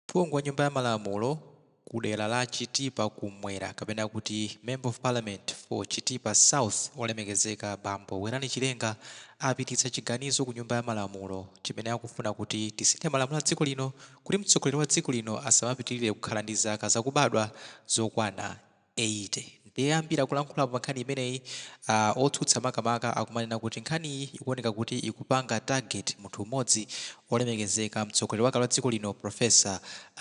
Phungu wa nyumba ya malamulo ku dera la Chitipa kummwera kapena kuti Member of Parliament for Chitipa South olemekezeka bambo Werani Chilenga apititsa chiganizo ku nyumba ya malamulo chimene akufuna kuti tisinthe malamulo a dziko lino kuti mtsogoleri wa dziko lino asamapitirire kukhala ndi zaka zakubadwa zokwana eyite. Ndiye ambiri akulankhulapo pa nkhani imeneyi, a otsutsa makamaka akumanena kuti nkhaniyi ikuoneka kuti ikupanga target munthu mmodzi, olemekezeka, mtsogoleri wakale wa dziko lino Prof.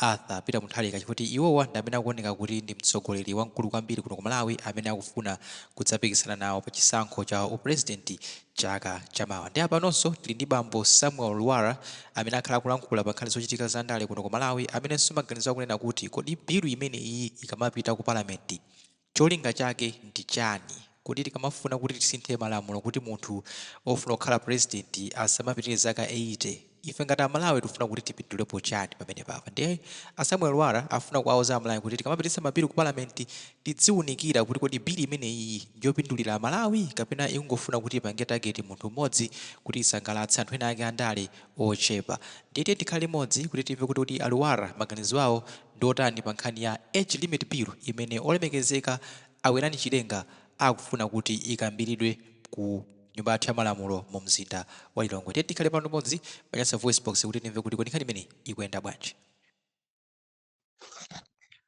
Arthur Peter Mutharika chifukwa iwowa ndi amene akuoneka kuti ndi mtsogoleri wamkulu kwambiri kuno ku Malawi amene akufuna kudzapikisana nawo pa chisankho cha u President chaka chamawa. Ndi apanonso tili ndi bambo Samuel Lwara amene akhala akulankhula pa nkhani zochitika za ndale kuno ku Malawi amenenso maganizo akunena kuti kodi bill imeneyiyi ikamapita ku parliament cholinga chake ndi chani? Kodi tikamafuna kuti tisinthe malamulo kuti munthu ofuna kukhala president asamapitirire zaka 80? ife ngati amalawi tikufuna kuti tipindulepo chani pamenepapa ndiye a Samuel Lwara akufuna kuwauza amalawi kuti tikamapititsa mabili ku parliament tidziunikira kuti kodi bili imeneyiyi ndiyopindulira amalawi kapena ikungofuna kuti ipange target munthu mmodzi kuti isangalatse anthu ena ake andale ochepa ndiye tiye tikhale limodzi kuti timve kuti kodi a Lwara maganizo awo ndi otani pa nkhani ya age limit bill imene olemekezeka a Werani Chilenga akufuna kuti ikambiridwe ku nyumba yathu ya malamulo mu mzinda wa Lilongwe. Tiye tikhale pano limodzi pa Nyasa Voice Box kuti timve kuti kodi nkhani imeneyi ikuyenda bwanji.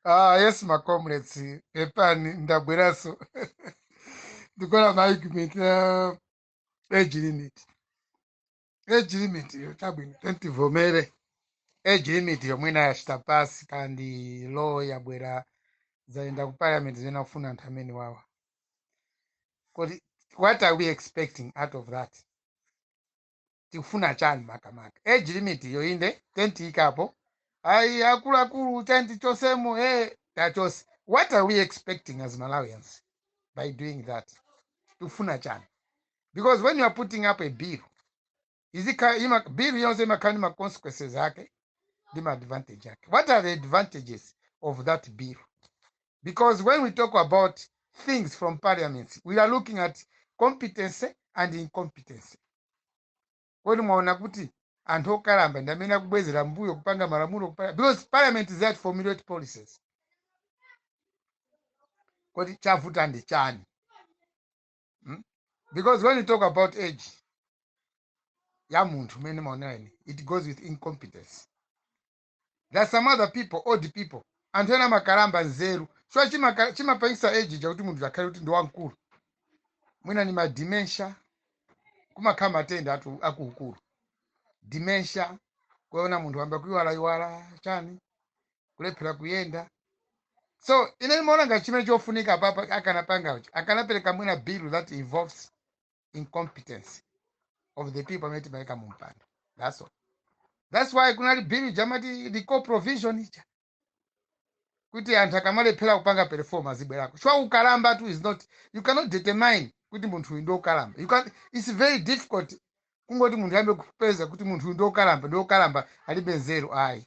Ah, yes ma comrades, pepani ndabweranso ndikola ma argument ya age limit. age limit yo chabwino tentivomere age limit yomweyi ine yachita pass kandi law yabwera zayenda ku parliament zina kufuna anthu amenewawa kodi what are we expecting out of that tikufuna chani makamaka age limit yo inde tentiikapo ayi akuluakulu tenti chotsemo ee tachotsa what are we expecting as malawians by doing that tikufuna chani because when you are putting up a bill bill iliyonse imakhala ndi ma consequences ake ndi ma advantage ake what are the advantages of that bill because when we talk about things from parliament we are looking at competency and incompetency kodi mwaona kuti anthu okalamba ndi amene akubwezera mbuyo kupanga malamulo because parliament is there to formulate policies kodi chavuta ndi chani mm? because when you talk about age ya munthu mene maonera ine it goes with incompetence there are some other people old people anthu ena amakalamba nzeru so chimaka- chimapangisa age chakuti munthu akhale kuti ndi wamkulu mwina ni ma dementia kumakhala matenda a akuluakulu dementia kuona munthu wayamba kuiwalaiwala chani kulephera kuyenda so ine ndimaona ngati chimene chofunika apapa akanapanga uchi akanapereka mwina bill that involves incompetence of the people amene timayika mu mpando that's all that's why kunali bill ija amati recall provision ija kuti anthu akamalephera kupanga perform azibwerako so ukalambatu is not you cannot determine kuti munthu uyu ndi wokalamba you can it's very difficult kungoti munthu ayambe kupeza kuti munthu uyu ndi wokalamba ndi wokalamba alibe nzeru ayi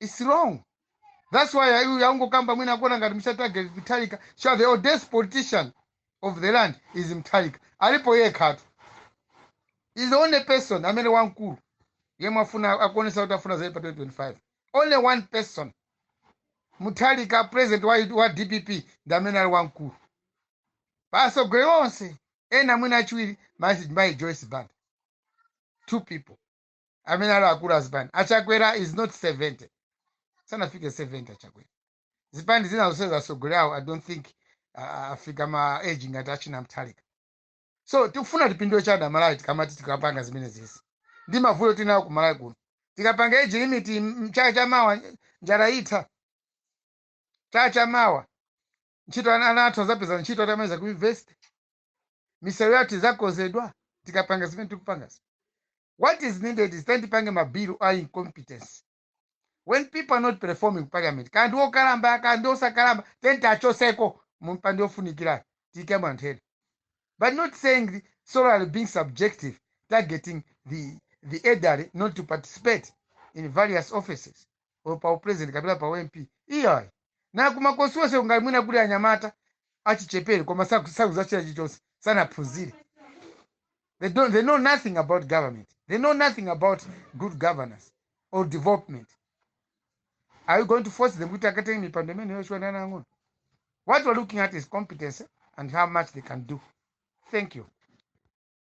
it's wrong that's why ayu yangokamba mwina akuona ngati mukutageta Mutharika so the oldest politician of the land is Mutharika alipo yekhatu he's the only person amene wamkulu yemwe afuna akuonesa kuti afuna azaime pa 2025 only one person Mutharika president wa, wa dpp ndi amene ali wamkulu pa atsogoleri onse ena mwina achiwiri mayi mayi joyce banda two people amene ali akulu a zipani achakwera is not 70 sanafike 70 achakwera zipani zina zonse atsogoleri awo i don't think uh, afika ma age ngati achina Mutharika so tikufuna tipindule chani amalawi tikamati tikapanga zimenezizi ndi mavuto tili nawo ku malawi kuno tikapanga age limit m- chaka cha mawa njala itha chaka cha mawa ntchito ana ana athu azapeza ntchito atamaliza ku university misewu yathu izakonzedwa tikapanga zimene tikupangazi what is needed is tipange mabilu a incompetence when people are not performing ku parliament kaya ndi okalamba aka kaya ndi osakalamba then tiwachotseko m'mipando ofunikirayo tiikemo anthu ena but not saying solely being subjective targeting the the elderly not to participate in various offices or pa upresident kapena pa ump iyayi na kumakonstityuwense ngati mwina kuli anyamata achichepere koma saku- sakuzachita chilichonse sanaphunzire they, don't, they know nothing about government they know nothing about good governance or development are you going to force them kuti akatenge mipando imeneyo chifukwa ndi ana ang'ono what we're looking at is competence and how much they can do thank you